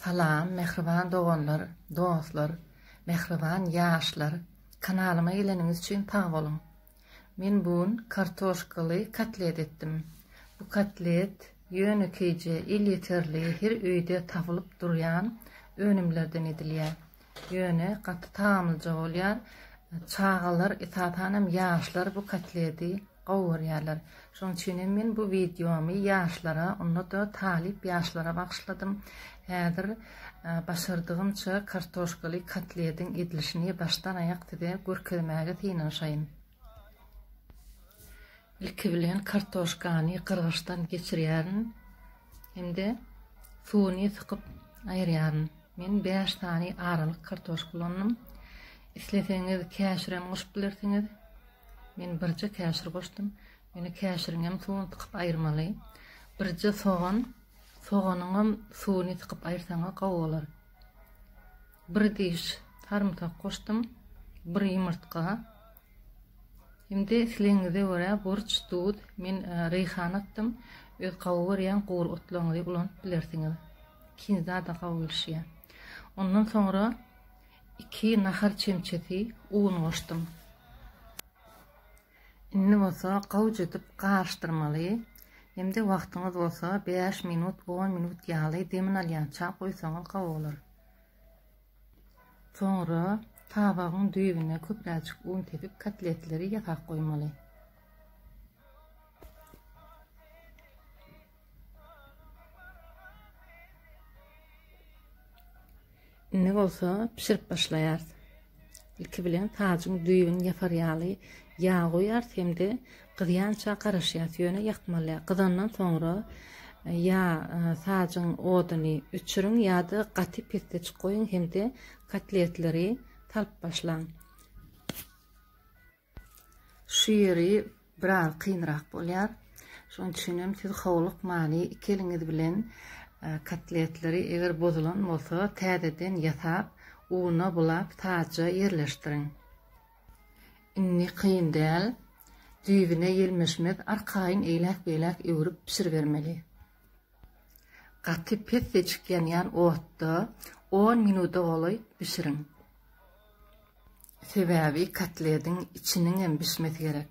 Salam mähriban doganlar, dostlar, mähriban ýaşlar, kanalyma geleniňiz üçin sag boluň. Men bu gün kartoşkaly kotlet etdim. Bu kotlet ýönekeýje, elýeterli, her öýde tapylyp durýan önümlerden edilýär. Ýöne gaty tagamlyja bolýar. Çagalar, esasan hem ýaşlar bu kotledi gowy görýärler. Şonuň üçin hem men bu wideomy ýaşlara, onda-da talyp ýaşlara bagyşladym. Häzir başardygymça kartoşkaly kotlediň edilişini başdan-aýak size görkezmäge synanyşaýyn. Ilki bilen kartoşkany gyrgyçdan geçirýärin. hem-de suwuny sykyp aýyrýaryn. Men bäş sany aralyk kartoşka ulandym. Isleseňiz käşirem goşup bilersiňiz. Men birje käşir goşdum. Ýöne käşiriňem suwuny sykyp aýyrmaly. Birje sogan, soganyňam suwuny sykyp aýyrsaňyz gowy bolar. Bir diş sarymsak goşdum, bir ýumurtga, Indi islegiňize görä burç, duz, men reýhan atdym, öz gawy görýän gury otlaryňyzy ulanyp bilersiňiz. Ikinjidada gawy gelişýär. Ondan soňra iki nahar çemçesi un goşdum. Indi bolsa gowja edip garyşdyrmaly. Hem-de wagtyňyz bolsa bäş minut, on minut ýaly demini alýança goýsaňyz gawy bolar. Soňra tabagyň düýbüne köpräjik un sepip kotletleri ýasap goýmaly. Indi bolsa pişirip başlaýarys. Ilki bilen sajyň düýbüni ýapar ýaly ýag goýarys hem-de Gyzýança garaşýas, ýöne ýakmaly. Gyzandan soňra ýa sazjyň oduny öçüriň ýa-da gaty pesdeçik goýuň hem-de kotletleri salyp başlaň. Şu ýeri biraz kynrak bolýar. Şonuň üçin hem siz howlukmaly iki eliňiz bilen kotletleri eger bozulan bolsa täzeden ýasap, una bulap sazja ýerleşdiriň. Indi kyn däl. Düýbüne ýelmeşmez arkaýyn eýläk-beýläk öwrüp bişiribermeli. Gaty pes seçik ýanýan otda on minuda golaý bişiriň. Sebäbi kotlediň içiniňem bişmesi gerek.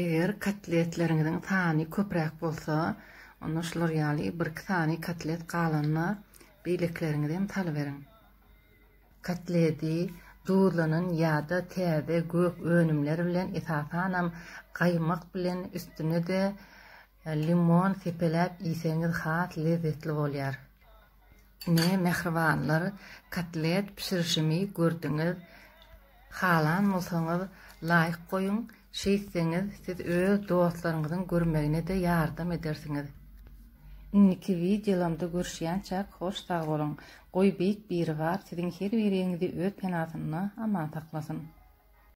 Eger kotletleriňiziň sany köpräk bolsa, onda şular ýaly bir-iki sany kotlet galanyna beýlekileriňizi hem salyberiň. Kotleti duzlanan ýa-da täze gök önümler bilen, esasanam gaýmak bilen üstüne-de Limon sepeläp iýseňiz has lezzetli bolýar. Ine, mähribanlar, kotlet bişirişimi gördüňiz. Halan bolsaňyz, laýk goýuň, şeýtseňiz, siz öz dostlaryňyzyň görmegine-de ýardam edersiňiz. Indiki wideolamda görüşýänçäk, hoş sag boluň. Goý Beýik Biribar siziň her biriňizi öz penasynda aman saklasyn.